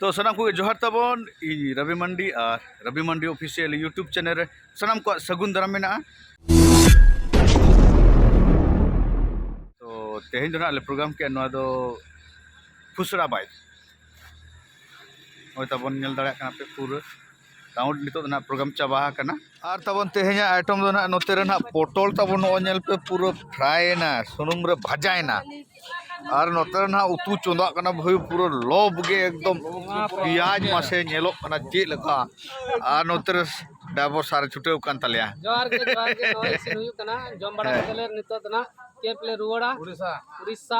ᱛᱚ ᱥᱟᱱᱟᱢ ᱠᱚᱜᱮ ᱡᱚᱦᱟᱨ ᱛᱟᱵᱚᱱ ᱤᱧ ᱨᱚᱵᱤ ᱢᱟᱱᱰᱤ ᱟᱨ Robi Mandi official YouTube channel ᱨᱮ ᱥᱟᱱᱟᱢ ᱠᱚᱣᱟᱜ ᱥᱟᱹᱜᱩᱱ ᱫᱟᱨᱟᱢ ᱢᱮᱱᱟᱜᱼᱟ ᱛᱚ ᱛᱮᱦᱮᱧ ᱫᱚ ᱱᱟᱦᱟᱜ ᱞᱮ ᱯᱨᱳᱜᱨᱟᱢ ᱠᱮᱫᱼᱟ ᱱᱚᱣᱟ ᱫᱚ ᱯᱷᱩᱥᱲᱟ ᱵᱟᱭ ᱦᱚᱭ ᱛᱟᱵᱚᱱ ᱧᱮᱞ ᱫᱟᱲᱮᱭᱟᱜ ᱠᱟᱱᱟ ᱯᱮ ᱯᱩᱨᱟᱹ ᱠᱟᱣᱩᱱᱴ ᱱᱤᱛᱚᱜ ᱫᱚ ᱱᱟᱦᱟᱜ ᱯᱨᱳᱜᱨᱟᱢ ᱪᱟᱵᱟ ᱟᱠᱟᱱᱟ ᱟᱨ ᱛᱟᱵᱚᱱ ᱛᱮᱦᱮᱧᱟᱜ ᱟᱭᱴᱮᱢ ᱫᱚ ᱱᱟᱦᱟᱜ ᱱᱚᱛᱮ ᱨᱮ ᱱᱟᱦᱟᱜ ᱯᱚᱴᱚᱞ ᱛᱟᱵᱚᱱ ᱱᱚᱜᱼᱚᱭ ᱧᱮᱞ ᱯᱮ ᱯᱩᱨᱟᱹ ᱯᱷᱨᱟᱭᱮᱱᱟ ᱥᱩᱱᱩᱢ ᱨᱮ ᱵᱷᱟᱡᱟᱭᱮᱱᱟ ᱟᱨ ᱱᱚᱛᱮ ᱨᱮ ᱱᱟᱦᱟᱜ ᱩᱛᱩ ᱪᱚᱸᱫᱟᱜ ᱠᱟᱱᱟ ᱵᱷᱟᱹᱭ ᱯᱩᱨᱟᱹ ᱞᱚᱵᱽ ᱜᱮ ᱮᱠᱫᱚᱢ ᱯᱮᱸᱭᱟᱡᱽ ᱢᱟᱥᱮ ᱧᱮᱞᱚᱜ ᱠᱟᱱᱟ ᱪᱮᱫ ᱞᱮᱠᱟ ᱟᱨ ᱱᱚᱛᱮ ᱨᱮ ᱰᱟᱭᱵᱚᱨ ᱥᱟᱨᱮ ᱪᱷᱩᱴᱟᱹᱣ ᱠᱟᱱ ᱛᱟᱞᱮᱭᱟ ᱡᱚᱦᱟᱨ ᱜᱮ ᱡᱚᱦᱟᱨ ᱜᱮ ᱱᱚᱜᱼᱚᱭ ᱤᱥᱤᱱ ᱦᱩᱭᱩᱜ ᱠᱟᱱᱟ ᱡᱚᱢ ᱵᱟᱲᱟ ᱠᱟᱛᱮᱫ ᱞᱮ ᱱᱤᱛᱚᱜ ᱫᱚ ᱱᱟᱦᱟᱜ ᱠᱮᱢᱯ ᱞᱮ ᱨᱩᱣᱟᱹᱲᱟ ᱩᱲᱤᱥᱥᱟ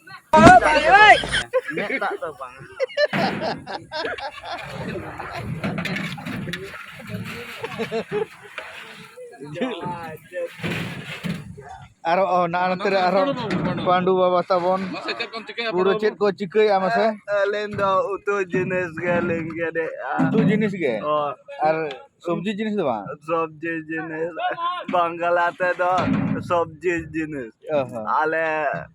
ᱟᱨᱚ ᱚ ᱱᱟ ᱱᱚᱛᱮ ᱨᱮ ᱟᱨᱚ ᱯᱟᱸᱰᱩ ᱵᱟᱵᱟ ᱛᱟᱵᱚᱱ ᱯᱩᱨᱟᱹ ᱪᱮᱫ ᱠᱚ ᱪᱤᱠᱟᱹᱭᱟ ᱢᱟᱥᱮ ᱟᱹᱞᱤᱧ ᱫᱚ ᱩᱛᱩ ᱡᱤᱱᱤᱥ ᱜᱮᱞᱤᱧ ᱜᱮᱫᱮᱜᱼᱟ ᱩᱛᱩ ᱡᱤᱱᱤᱥ ᱜᱮ ᱟᱨ ᱥᱚᱵᱽᱡᱤ ᱡᱤᱱᱤᱥ ᱫᱚ ᱵᱟᱝ ᱥᱚᱵᱽᱡᱤ ᱡᱤᱱᱤᱥ ᱵᱟᱝᱞᱟ ᱛᱮᱫᱚ ᱥᱚᱵᱽᱡᱤ ᱡᱤᱱᱤᱥ ᱟᱞᱮ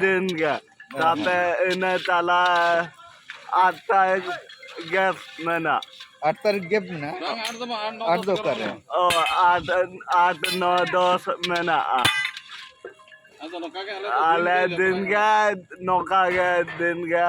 ᱫᱤᱱ ᱜᱮ ᱛᱟᱯᱮ ᱤᱱᱟᱹ ᱛᱟᱞᱟ ᱟᱴ ᱛᱟᱭ ᱜᱮᱯ ᱢᱮᱱᱟᱜ ᱟᱴ ᱛᱟᱹᱨᱤᱠᱷ ᱜᱮᱯ ᱢᱮᱱᱟᱜᱼᱟ ᱟᱴ ᱫᱚ ᱚᱠᱟᱨᱮ ᱚ ᱟᱴ ᱟᱴ ᱱᱚ ᱫᱚᱥ ᱢᱮᱱᱟᱜᱼᱟ ᱟᱞᱮ ᱫᱤᱱ ᱜᱮ ᱱᱚᱝᱠᱟ ᱜᱮ ᱫᱤᱱ ᱜᱮ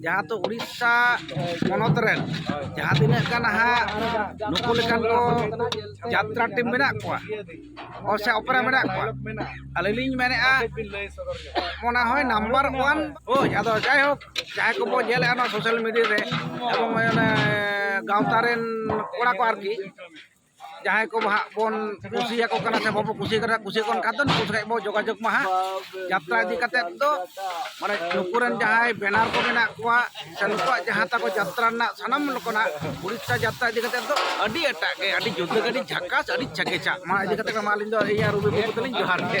ᱡᱟᱦᱟᱸ ᱫᱚ ᱩᱲᱤᱥᱥᱟ ᱯᱚᱱᱚᱛ ᱨᱮᱱ ᱡᱟᱦᱟᱸ ᱛᱤᱱᱟᱹᱜ ᱜᱟᱱ ᱦᱟᱸᱜ ᱱᱩᱠᱩ ᱞᱮᱠᱟᱱ ᱠᱚ ᱡᱟᱛᱨᱟ ᱴᱤᱢ ᱢᱮᱱᱟᱜ ᱠᱚᱣᱟ ᱥᱮ ᱚᱯᱮᱨᱟ ᱢᱮᱱᱟᱜ ᱠᱚᱣᱟ ᱟᱹᱞᱤᱧ ᱞᱤᱧ ᱢᱮᱱᱮᱫᱼᱟ ᱢᱚᱱᱮ ᱦᱚᱭ ᱱᱟᱢᱵᱟᱨ ᱚᱣᱟᱱ ᱦᱳᱭ ᱟᱫᱚ ᱡᱟᱭᱦᱳᱠ ᱡᱟᱦᱟᱸᱭ ᱠᱚᱵᱚ ᱧᱮᱞᱮᱫᱼᱟ ᱱᱚᱣᱟ ᱥᱳᱥᱟᱞ ᱢᱤᱰᱤᱭᱟ ᱨᱮ ᱮᱵᱚᱝ ᱚᱱᱮ ᱜᱟᱶᱛᱟ ᱨᱮᱱ ᱠᱚᱲᱟ ᱠᱚ ᱟᱨᱠᱤ ᱡᱟᱦᱟᱸᱭ ᱠᱚ ᱦᱟᱸᱜ ᱵᱚᱱ ᱠᱩᱥᱤᱭᱟᱠᱚ ᱠᱟᱱᱟ ᱥᱮ ᱵᱟᱵᱚ ᱠᱩᱥᱤ ᱠᱟᱱᱟ ᱠᱩᱥᱤ ᱠᱚ ᱠᱟᱱ ᱫᱚ ᱱᱩᱠᱩ ᱥᱟᱞᱟᱜ ᱵᱚ ᱡᱳᱜᱟᱡᱳᱜᱽ ᱢᱟ ᱦᱟᱸᱜ ᱡᱟᱛᱨᱟ ᱤᱫᱤ ᱠᱟᱛᱮ ᱫᱚ ᱢᱟᱱᱮ ᱱᱩᱠᱩ ᱨᱮᱱ ᱡᱟᱦᱟᱸᱭ ᱵᱮᱱᱟᱨ ᱠᱚ ᱢᱮᱱᱟᱜ ᱠᱚᱣᱟ ᱥᱮ ᱱᱩᱠᱩᱣᱟᱜ ᱡᱟᱦᱟᱸ ᱛᱟᱠᱚ ᱡᱟᱛᱨᱟ ᱨᱮᱱᱟᱜ ᱥᱟᱱᱟᱢ ᱞᱮᱠᱟᱱᱟᱜ ᱩᱲᱤᱥᱥᱟ ᱡᱟᱛᱨᱟ ᱤᱫᱤ ᱠᱟᱛᱮ ᱫᱚ ᱟᱹᱰᱤ ᱮᱴᱟᱜ ᱜᱮ ᱟᱹᱰᱤ ᱡᱩᱫᱟᱹ ᱜᱮ ᱟᱹᱰᱤ ᱡᱷᱟᱠᱟᱥ ᱟᱹᱰᱤ ᱪᱷᱮᱠᱮᱪᱷᱟ ᱢᱟ ᱤᱫᱤ ᱠᱟᱛᱮ ᱢᱟ ᱟᱹᱞᱤᱧ ᱫᱚ ᱤᱭᱟᱹ ᱨᱩᱵᱤ ᱵᱟᱹᱵᱩ ᱛᱟᱹᱞᱤᱧ ᱡᱚᱦᱟᱨ ᱜᱮ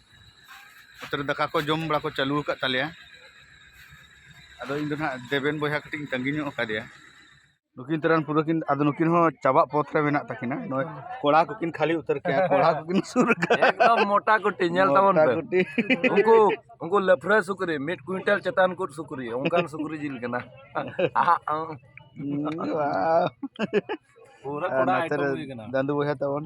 ᱛᱟᱦᱚᱞᱮ ᱫᱟᱠᱟ ᱠᱚ ᱡᱚᱢ ᱵᱟᱲᱟ ᱠᱚ ᱪᱟᱹᱞᱩ ᱟᱠᱟᱫ ᱛᱟᱞᱮᱭᱟ ᱟᱫᱚ ᱤᱧ ᱫᱚ ᱱᱟᱜ ᱫᱮᱵᱮᱱ ᱵᱚᱭᱦᱟ ᱠᱟᱹᱴᱤᱡ ᱤᱧ ᱛᱟᱺᱜᱤ ᱧᱚᱜ ᱟᱠᱟᱫᱮᱭᱟ ᱱᱩᱠᱤᱱ ᱛᱟᱨᱟᱱ ᱯᱩᱨᱟᱹ ᱠᱤᱱ ᱟᱫᱚ ᱱᱩᱠᱤᱱ ᱦᱚᱸ ᱪᱟᱵᱟᱜ ᱯᱚᱛᱷ ᱨᱮ ᱢᱮᱱᱟᱜ ᱛᱟᱹᱠᱤᱱᱟ ᱱᱚᱜᱼᱚᱭ ᱠᱚᱲᱟ ᱠᱚᱠᱤᱱ ᱠᱷᱟᱹᱞᱤ ᱩᱛᱟᱹᱨ ᱠᱮᱫᱟ ᱠᱚᱲᱟ ᱠᱚᱠᱤᱱ ᱥᱩᱨ ᱠᱟᱫᱟ ᱮᱠᱫᱚᱢ ᱢᱚᱴᱟ ᱠᱩᱴᱤ ᱧᱮᱞ ᱛᱟᱵᱚᱱ ᱯᱮ ᱩᱱᱠᱩ ᱩᱱᱠᱩ ᱞᱟᱯᱷᱨᱟ ᱥᱩᱠᱨᱤ ᱢᱤᱫ ᱠᱩᱭᱤᱱᱴᱟᱞ ᱪᱮᱛᱟᱱ ᱠᱚ ᱥᱩᱠᱨᱤ ᱚᱱᱠᱟᱱ ᱥᱩᱠᱨᱤ ᱡᱤᱞ ᱠᱟᱱᱟ ᱯᱩᱨᱟᱹ ᱠᱚᱲᱟ ᱟᱭᱴᱮᱢ ᱦᱩᱭ ᱠᱟᱱᱟ ᱫᱟᱹᱫᱩ ᱵᱚᱭᱦᱟ ᱛᱟᱵᱚᱱ